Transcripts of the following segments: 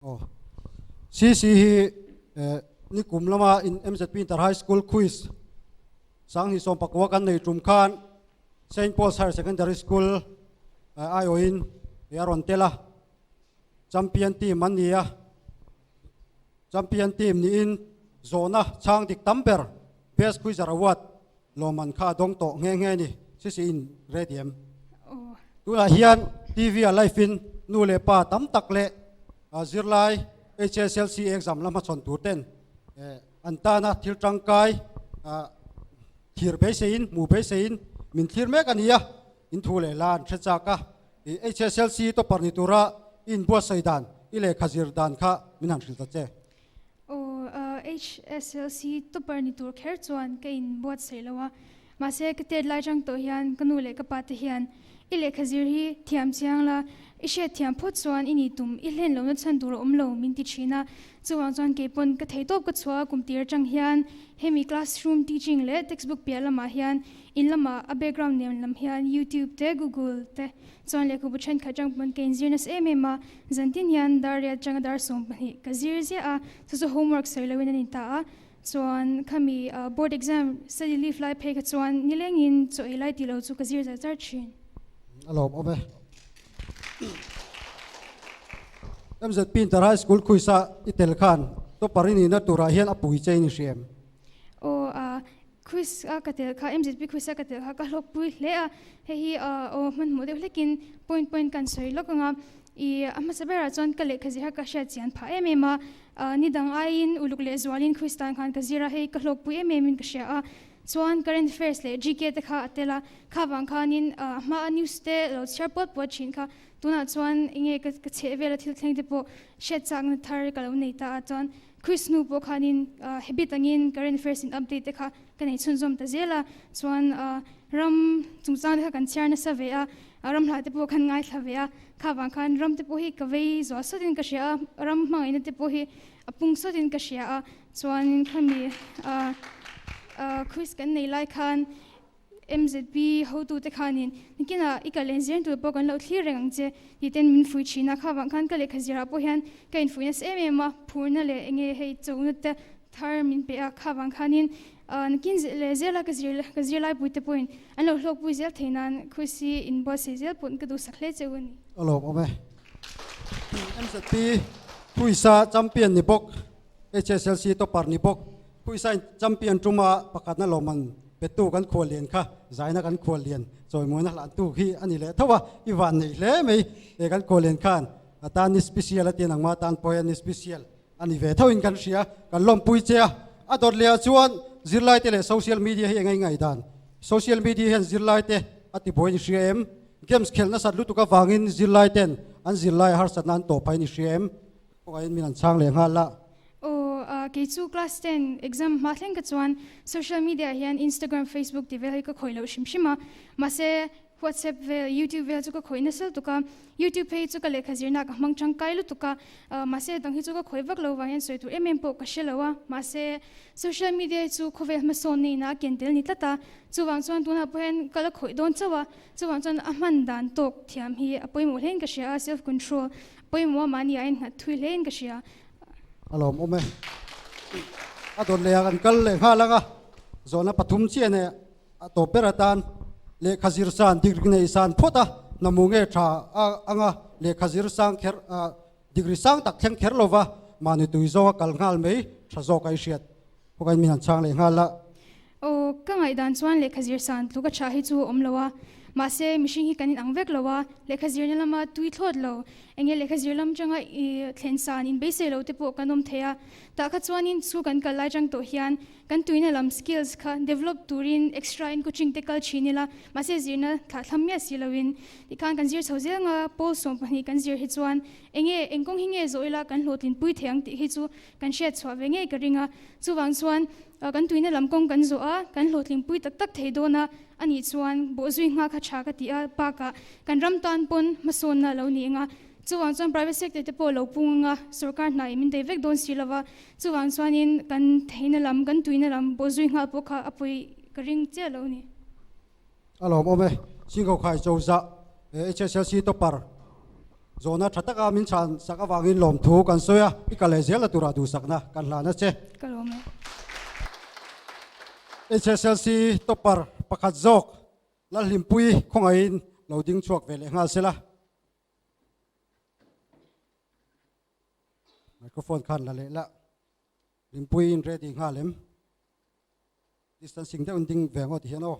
Aw. CC hi nikum lama in MZP Inter High School Quiz Sangni sawm pakua kan nei tum khan Saint Paul's Higher Secondary School aiawhin a rawn tel a, champion team an ni a. Champion team niin zawhna chhang dik tam ber Best Quizzer Award lawmman kha a dawng tawh nghe nghe ni, Sisi in re diam. Tunah hian TV-a live in nu leh pa tam tak leh zirlai HSLC exam la hmachhawn tur ten an tana thil tangkai thlir beisei in, hmu beisei in min thlir mek a nia, in thu leh la an hre chak a. HSLC tawparh ni tura i inbuatsaih dan, i lehkha zir dan kha min han hrilh ta che. Aw, HSLC topper ni tur kher chuan ka in buat saih lo a, mahse ka tet lai chang tawh hian ka nu leh ka pa te hian i lehkha zir hi thiam chiang la, i hriat thiam phawt chuan i ni tum, i hlen lohna chhan tur a awm lo min ti thin a, chuvang chuan kei pawn ka thei tawp ka chhuah a, kum tir chang hian hemi classroom teaching leh textbook piah lamah hian in lamah a background nem lam hian youtube te google te Chuan lehkhabu thenkhat tang pawn ka inzir nasa em em a, zan tin hian dar riat tanga dar sawm pahnih ka zir ziah a, chu chu homework sawi loin an intah a, chuan khami board exam study leave lai phei kha chuan nilengin chaw ei lai tih lo chu ka zir zar zar thin. A lawm awm e. MZ Pinter High School Khuisa i tel khan tawpari nihna turah hian a pui che ni hrih em? Aw a, Kris a ka tel kha, MZP Kris a ka tel kha ka hlawk pui hle a, hei hi aw hmanhmawh deuh hlekin point point kan sawi lawk ang a, i a hmasa berah chuan ka lehkha zir kha ka hriat chian phah em em a, ah ni dang aiin uluk leh zualin Kris tan khan ka zir a, hei ka hlawk pui em em in ka hria a, chuan current affairs leh GK te kha a tel a, kha vang khanin ah a hmaa news te lo chhiar puat puat thin kha, tunah chuan enge ka chheh vela thil thleng te pawh hriat chakna thar ka lo nei ta a, chuan Chris nu pawh khanin habit angin current affairs in update te kha ka nei chhunzawm ta zel a, chuan ram chungchang te kha kan chhiar nasa ve a, ramhla te pawh khan ngaithla ve a, kha vang khan ram te pawh hi ka vei zual sawt in ka hria a, ram hmangaihna te pawh hi a pung sawt in ka hria a, chuan khami Chris kan nei lai khan Mzp hotute khanin Nikinah i kal en zir tur pawh kan lo thlir reng ang che tih ten min fuih thin a, kha vang khan ka lehkha zirah pawh hian ka infuih nasa em em a, phurna leh enge hei chona te thar min pe a, kha vang khanin Nikin leh zela ka zir ka zirlaipui te pawhin an lo hlawkpui zel thei nan khuasi inbuatsaih zel pawn ka duh sak hle cheu a ni. Alawm awm e. Mzp khuisa champion ni bawk. HSLC topper ni bawk Puisain champion tuma pakhatna lawm an pettu kan khuallian kha zaina kan khuallian chawimuina hlantu hi a ni leh tho a i van nei hle mai he kan khuallian khan atan ni special atin ang mah tan pawhin ni special a ni ve thauhin kan hria kan lawmpui che a a dawtleah chuan zirlaite leh social media hi engai ngai dan social media hian zirlaite a ti buai ni hria em games khel nasat lutuk avangin zirlaiten an zirlaiah harsatna an tawh phai ni hria em. Kawngah hian min an chhang leh nghal a. Aw a, kei chu class ten exam hma thleng kha chuan social media ah hian Instagram, Facebook tih vel hi ka khawih loh hrim hrim a. Mahse WhatsApp vel, YouTube vel chu ka khawih nasal tuk a. YouTube phei hi chu ka lehkha zirna ah ka hmang tangkai lutuk a. Aw mahse hetiang hi chu ka khawih vak lo vang hian sawi tur em em pawh ka hre lo a. Mahse social media hi chu khawvel hmasawn nei na a ken tel ni tlat a. Chuvang chuan tunah pawh hian ka la khawih dawn chauh a. Chuvang chuan a hman dan tawk thiam hi a pawimawh hlein ka hria a, self control. Pawimawh mahnia in nghat thui hle in ka hria. A lawm awm e. A dawn leh ah kan kal leh nghal ang a, zawhna pathum chiah nei ah a tawp ber atan lehkha zir san degree nei san phawt a hnamu nge tha a ang a, lehkha zir sang kher ah degree sang tak thleng kher lova mahni tui zawnga kal nghal mai tha zawk a i hriat. Khua kai min han chhang leh nghal a. Aw, ka ngaihdan chuan lehkha zir san tluk a chhah hi chu a awm lo a, mahse mihring hi kan inang vek lo a, lehkha zirna lama tui thlawt lo, eng nge lehkha zir lam atanga thlen san in beisei lo te pawh kan awm thei a, tah kha chuanin chhu kan kal lai chang tawh hian kan tuina lam, skills, kha develop turin extra in coaching te kal thin ila, mahse zirna thlah thlam miah si lo in tih khan kan zir chho zel nga, pawl sawm pahnih kan zir hi chuan eng nge, eng kawng hi nge zawh ila kan hlawhtlin pui thei ang tih hi chu Kan hriat chhuah ve ngei ka ring a, chuvang chuan kan tuihna lam kawng kan zawh a, kan hlawhtling pui tak tak thei dawn a, a nih chuan bawh zui nghak a tha ka ti a, bakah kan ram tan pawn hmasawnna lo ni eng a, chuvang chuan private sector te pawh lo pung ang a, sorkar hnaiin min dei vek dawn si lo va, chuvang chuanin kan theihna lam, kan tuihna lam bawh zui nghal pawh kha a pawi ka ring chiah lo ni. A lawm awm e, Singkawkhai Chawza HSLC topper zawhna tha taka min chhan sak avangin lawm thu kan sawi a, i kal leh zel na tura duhsakna kan hlan a che. Ka lawm e. HSLC topper pakhat zawk Lalhlimpui khawngaihin lo ding chhuak ve leh nghal se la. Microphone khan la leh lah. Limpui inre dih nghal em. Distancing deuhin ding ve ang aw ti hian aw.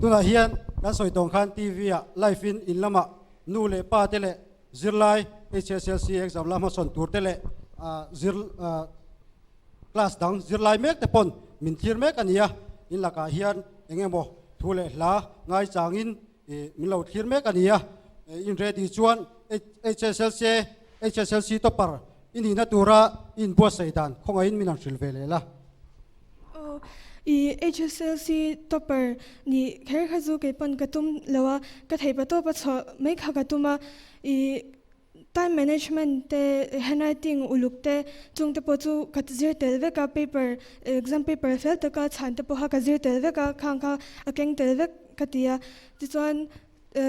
Tunah hian kan sawi tawng khan TV ah live in in lamah nu leh pa te leh zirlai HSLC exam la hmasawn tur te leh zir class dang zirlai mek te pawn min thlir mek a ni a. In lakah hian eng emaw thu leh hla ngai changin Ih min lo thlir mek a ni a, ih in ready chuan HSLC HSLC topper i nihna tura i in buatsaih dan khawngaih in min han hrilh ve leh la. Aw, ih HSLC topper nih kher kha chu kei pawn ka tum lo a, ka theipa tawpa chhuah mai kha ka tum a, ih. Time management te handwriting uluk te chungte pawh chu ka zir tel vek a paper exam paper fel taka chhan te pawh kha ka zir tel vek a khang kha a keng tel vek ka ti a tichuan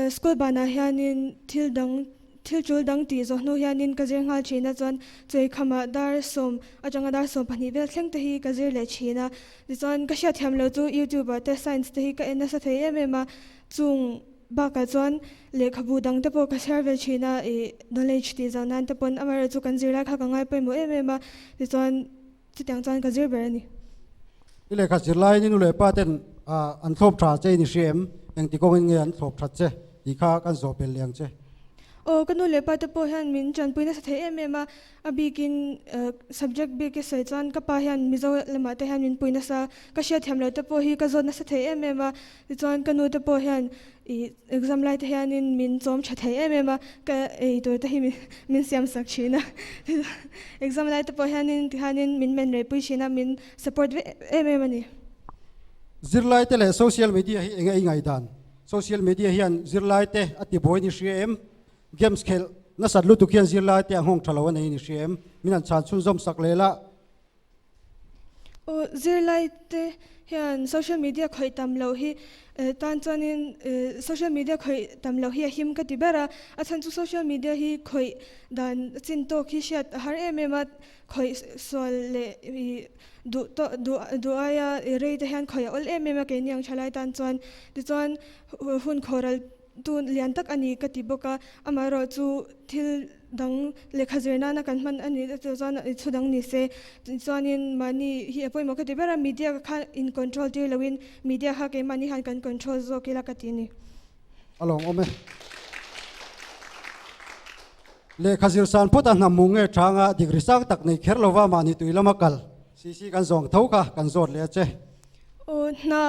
school banah hianin thil dang thil tul dang tih zawh hnu hianin ka zir nghal thin a chuan chawi khamah dar sawm atanga dar sawm pahnih vel thleng te hi ka zir leh thin a tichuan ka hriat thiam lo chu youtube ah te science te hi ka en nasa thei em em a chung Bakah chuan lehkhabu dang te pawh ka share ve thin a, i knowledge tih zau nan te pawn amaherawh chu kan zir lai kha ka ngai pawimawh em em a, tichuan chutiang chuan ka zir ber a ni. I lehkha zir laiin i nu leh pa ten an thlawp tha che i ni hria em? Engti kawngin nge an thlawp that che tih kha kan zawh belliang che. Aw, ka nu leh pa te pawh hian min tanpui nasa thei em em a. A bikin subject bik i sawi chuan ka pa hian Mizo lamah te hian min pui nasa a, ka hria thiam lo te pawh hi ka zawt nasa thei em em a, tichuan ka nu te pawh hian exam lai te hianin min chawm tha thei em em a, ka ei tur te hi min siam sak thin a, exam lai te pawh hianin tihianin min men rei pui thin a, min support vek em em a ni. Zirlai te leh social media hi eng a ingaihdan? Social media hian zirlai te a tibuai ni hria em? Games khelh nasat lutuk hian zirlai te a nghawng tha lo a nei ni hri em? Min an chhan chhun zawm sak lel a. Aw, zirlai te hian social media khawih tam loh hi eh, tan chuanin eh, social media khawih tam loh hi a him ka ti ber a. A chhan chu social media hi khawih dan chin tawk hi hriat a har em em a, khawih sual leh i duh tawh duh duh aia rei te hian khawih a awlh em em a keini ang tha lai tan chuan. Tichuan hun khawral. Tun lian tak a ni ka ti bawk a, amaherawh chu thil dang lehkha zir nana kan hman a nih loh chuan i chhu dang ni se. Tichuanin mahni hi a pawimawh ka ti ber a, media kha in control tir lohin media kha keimahni hian kan control zawk ila ka ti a ni. A lawngawm e. Lehkha zir san phawt a hnam mung nge changa dikri sang tak nei kher lova mahni tui lama kal si si kan zawng tho kha kan zawt leh a che. Aw hna.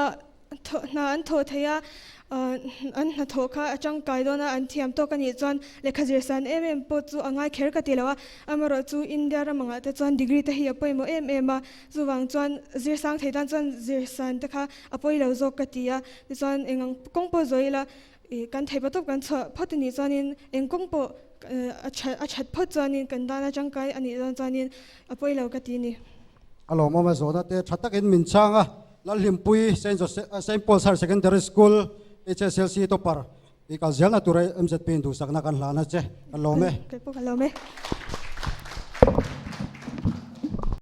Thawh hna an tho thei a, an hna thawh kha a tangkai dawn a, an thiam tawk a nih chuan lehkha zirsan em em pawh chu a ngai kher ka ti lo a, amarawh chu India ram angah te chuan degree te hi a pawimawh em em a, chuvang chuan zir sang thei tan chuan zirsan te kha a pawi lo zawk ka ti a, tichuan eng ang kawng pawh zawi ila I kan thei patawp kan chhuah phawt a nih chuanin eng kawng pawh a that phawt chuanin kan dana tangkai a nih dawn chuanin a pawi lo ka ti ni. A lawmawm a zawhna te tha takin min chhang a, Lalhlimpui Saint Joseph, Saint Paul's Higher Secondary School HSLC topper i kal ziahna tura MZP in duhsakna kan hlan a che. Kan lawm e. Kei pawh ka lawm e.